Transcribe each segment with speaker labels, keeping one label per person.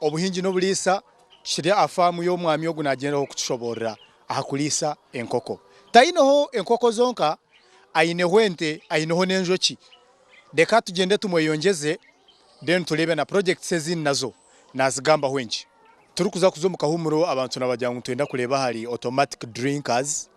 Speaker 1: Obuhingi n'oburiisa kiri aha faamu y'omwami ogu naagyendaho kutushoboorora aha kuriisa enkoko. Taineho enkoko zonka, aineho ente, aineho n'enjoki. Reka tugyende tumweyongyeze then tureebe na projects ezindi nazo naazigambaho enki. Turikuza kuza omu kahuumuro abantu nabagira ngu nitwenda kureeba ahari automatic drinkers.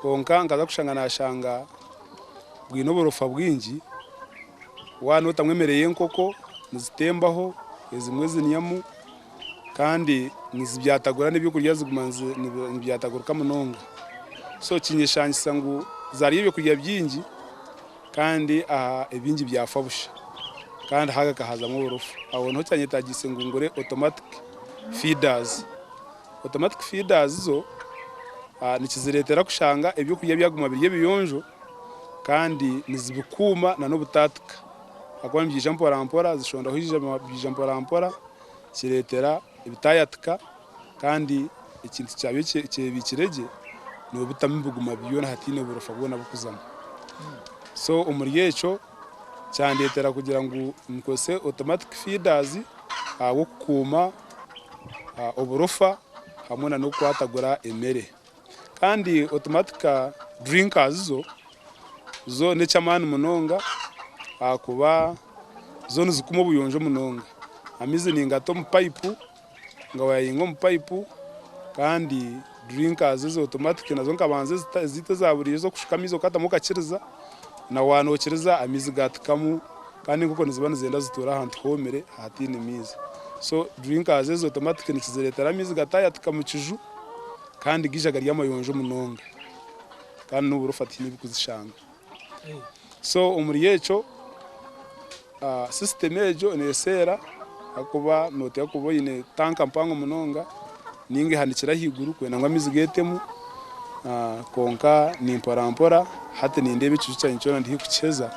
Speaker 2: Kwonka nkaza kushanga nashanga bwine oburofa bwingi waba otamu emere y'enkoko nizitembaho ezimwe zinyamu kandi nizibyatagura n'ebyokurya ziguma nibyatagurika munonga so kinyeshangisa ngu zarya ebyokurya byingi kandi ebingi byafa busha kandi hakahazamu oburofa aho niho kyanyetagiise ngu ngure automatic feeders. Automatic feeders zo nikizireetera kushanga eby'okurya byaguma biri ebiyonjo kandi nizibikuuma nana obutaatika ahakuba nibyija mporampora, zishondaho eijambo byija mporampora kireetera bitaayatika kandi ekintu kyabyo ekyebiikire gye nobitamu biguma byona hataine burofa bwona burikuzamu. So omuri ekyo kyandeetera kugira ngu nkozese automatic feeders ahabw'okukuuma. oburofa hamwe na n'okukwatagura emere. Kandi automatic drinkers zo, zo n'eky'amaani munonga ahakuba zo nizikuma obuyonjo munonga. Amaizi ningata omu payipu, nga wayainga omu payipu kandi. Drinkers ezi automatic nazo nkabanza ezaitu eza buriijo ez'okushuka amaizi okatamu okakiriza na waaba nookiriza amaizi gaatekamu kandi enkoko niziba nizenda zituure ahantu hoomire ahataine maizi. So drinkers ezi automatic nikizireetera amaizi gataayateka mu kiju kandi gaija gari amayonjo munonga kandi n'obu orifa tihaine ebi kuzishanga. So omuri ekyo sisitemu egyo neeseera ahakuba nooteeka kuba oine tanka mpango munonga nainga ehanikire ahaiguru kwenda ngu amaizi geetemu. Kwonka ni mporampora, hati nindeeba ekiju kyangye kyona ndi haihi kukiheza.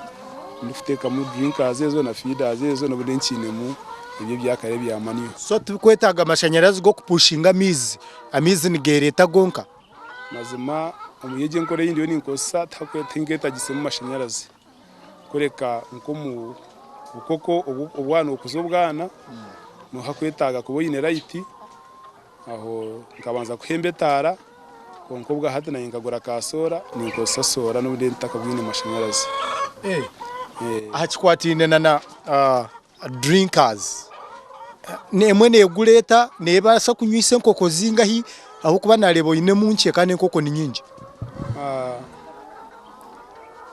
Speaker 2: Ndikuteekamu drinkers ezo na feeders ezo n'obundi nkiinemu ebyo ebyakare ebya manual. So tibikwetaaga
Speaker 1: mashanyarazi g'okupushinga amaizi, amaizi nigeereeta gonka? Mazima
Speaker 2: omuri egi enkora ei ndiyo ninkozesa tinketagisemu mashanyarazi kureka nk'omu bukoko obwana okuza obwana niho hakwetaaga kuba oine rayiti aho nkabanza kuhemba etaara kwonka obwahati naanye nkagura ka soora ninkozesa soora n'obundi ntakabwine mashanyarazi. Aha
Speaker 1: kikwataine na drinkers emwe negura eta nebasa kunywisa enkoko zingahi ahabwokuba nareba oyinemu nkye kandi enkoko ninyingi.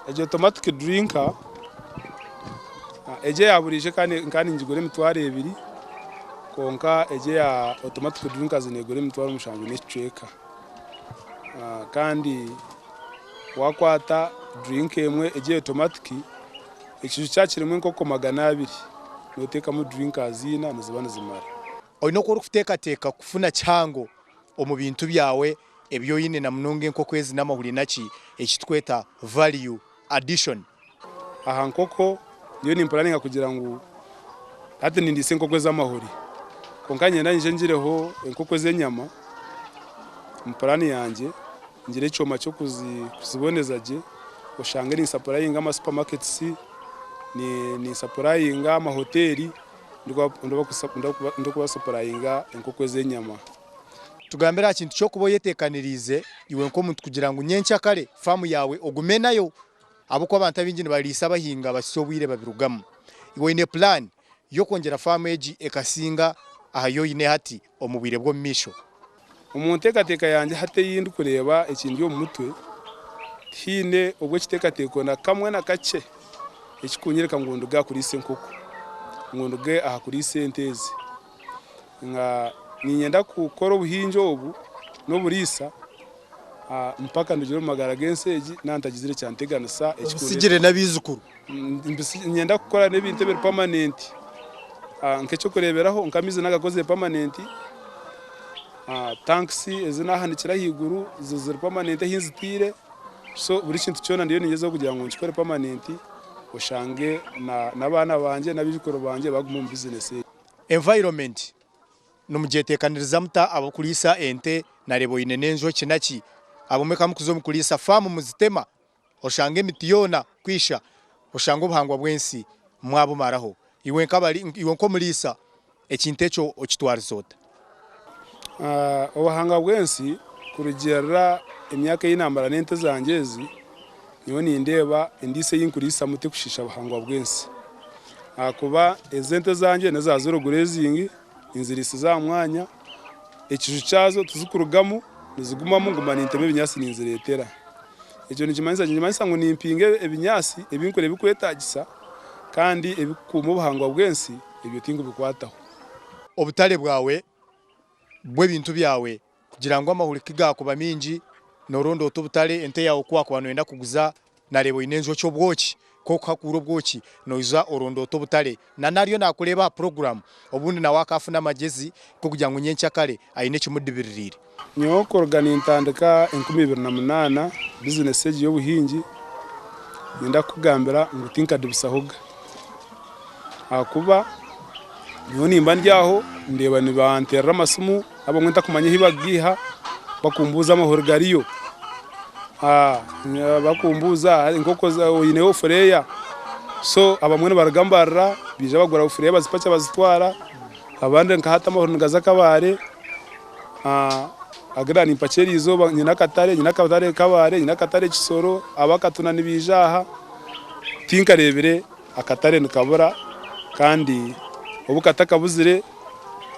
Speaker 2: Egyo automatic drinker egyo eyaburijo nkaba ningigura emitwaro ebiri kwonka egyo eya automatic drinkers negura emitwaro mushanju nekicweka kandi wakwata drink emwe egyo eya automatic. Ekiju kya kirimu enkoko magana abiri, n'oteekamu drinkers ina niziba nizimara. Oine oku
Speaker 1: orikuteekateeka kufuna kihango omu bintu byawe ebi oine na munonga enkoko ezi n'amahuri naki eki tukweta value addition. Aha
Speaker 2: nkoko, nyowe nimpuraninga kugira ngu hati nindiisa enkoko ez'amahuri kwonka niinyenda ngye ngireho enkoko ez'enyama omu puraani yangye. Ngire ekyoma ky'okuziboneza gye, oshange ninsapurayinga amasupamaketisi, ninsapurayinga amahoteeri, ndikubasapurayinga enkoko ez'enyama. Tugambire
Speaker 1: aha kintu ky'okuba oyeteekaniriize iwe nk'omuntu kugira ngu nyenkya kare faamu yaawe ogume nayo ahabw'okuba abantu abaingi nibariisa bahinga bahisya obwire babirugamu. Iwe oine pulaani? y'okwongyera faamu egi ekasinga aha yi oine hati omu bwire bw'omumaisho? Omu
Speaker 2: nteekateeka yangye hati ei ndikureeba ekindi omu mutwe, tihaine obw'ekiteekateeko na kamwe na kakye ekikunyoreka ngu nduge aha kuriisa enkoko, ngu nduge aha kuriisa ente ezi. nga niinyenda kukora obuhingi obu n'oburiisa mpaka ndugire omu magara g'ensi egi naaba ntagizire kyanteganisa ekikundetera
Speaker 1: kugira. Niinyenda
Speaker 2: kukora n'ebintu ebiri pamanenti. Nk'eky'okureeberaho nka amaizi naagakozire pamanenti, tankisi ezi naahanikire ahaiguru ziri pamanenti ahi nzitaire. So buri kintu kyona ndiyo niingyezaho kugira ngu nkikore pamanenti oshange n'abaana bangye n'abaijukuru bangye baagume omu bizineesi egi. Environment
Speaker 1: nimugyetekaniriza muta ab'okuriisa ente nareeba oine n'enjoki naki? Abamwe ka mukuza omu kuriisa faamu muzitema oshange emiti yoona ku isha oshange obuhangwa bw'ensi mwabumaraho. Iwe nk'omuriisa ekintu ekyo okitwariza ota?
Speaker 2: Obuhanga bw'ensi kurugiirira emyaka ei naamara n'ente zangye ezi, nyowe nindeeba endiisa ei ndikuriisamu terikushiisha buhangwa bw'ensi. Ahakuba ezi ente zangye n'eza ziro gureezingi, ninziriisiza aha mwanya, ekiju kyazo tizikurugamu nizigumamu nguma nintema ebinyaatsi ninzireetera. Ekyo nikimanyisa ki? Nikimanyisa ngu nimpinga ebinyaatsi ebi ndikureeba ebirikwetaagisa kandi ebirikukuuma obuhangwa bw'ensi, ebyo tindikubikwataho. obutale
Speaker 1: bwawe bw'ebintu byawe kugira ngu amahuri ku gaakuba maingi nooronda ota obutale, ente yaawe ku waakuba nooyenda kuguza naareeba oine enjoki obwoki ku orikuhakuura obwoki noija oronda ota obutare nana ariyo naakureeba aha puroguramu obundi nawe akaafuna amagyezi g'okugira ngu nyenkya kare aine ekimudibiririre. Nyowe kuruga
Speaker 2: nintandika enkumi ibiri na munaana bizinesi egi y'obuhingi, niinda kukugambira ngu tinkadibisahoga. Ahakuba nyowe nimba ndi aho ndeeba nibanteerera amasimu abamwe ntakumanya ahi bakugaiha bakumbuuza amahuri gariyo. Bakumbuuza enkoko oineyo obufureeya? So abamwe nibaruga mbarira baija bagura obufureeya bazipacha bazitwara, abandi nka hati amahuri nigaza Kabale. agirira nimpakira erizooba nyine akatare nyine akatare kabare nyine akatare kisoro abakatuna nibaija aha tinkareebire akatare nikabura kandi obu katakabuzire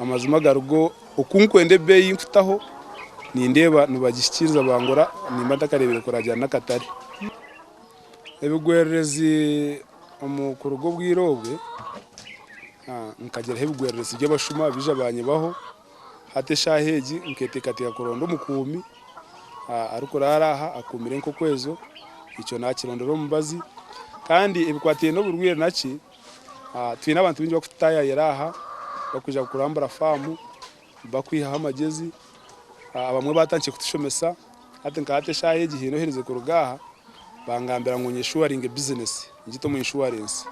Speaker 2: amazima agarigo okunkwenda ebeeyi nkutaho nindeeba nibagihikiriza bangura nimba ntakareebire kuragira n'akatare ebigwererezi omu kuruga obwire obwe nkagiraho ebigwererezi by'abashuma baija banyibaho Hati eshaaha egi nketeekateeka kuronda omukuumi arikuraara aha akuumire enkoko ezo. Ekyo naakirondera omu mubazi. Kandi ebikwataine n'oburwaire naki, twine abantu baingi barikututaayaayira aha barikwija kurambura faamu, barikwihaho amagezi. Abamwe baatandikire kutushomesa Hati nka hati eshaaha egi haine oherize kuruga aha, bangambira ngu nyeshuwaringe bizinesi, ngite omu inshuwarensi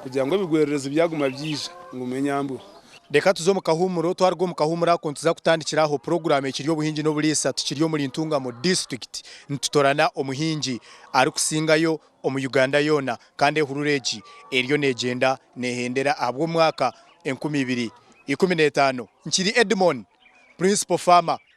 Speaker 2: kugira ngu ebigwererezi byaguma byaija, ngume nyambweho. Reka tuze omu
Speaker 1: kahuumuro. Twaruga omu kahuumuro ako, nituza kutandikira aho puroguraamu ekiri Obuhingi n'Oburiisa. Tukiri omuri Ntungamo Disiturikiti, nitutoorana omuhingi arikusingayo omu Uganda yoona, kandi ehurura egi eriyo neegyenda neehendera ahabw'omwaka enkumi ibiri ikumi n'etaano. Nkiri Edmon, Purinsipo Faama.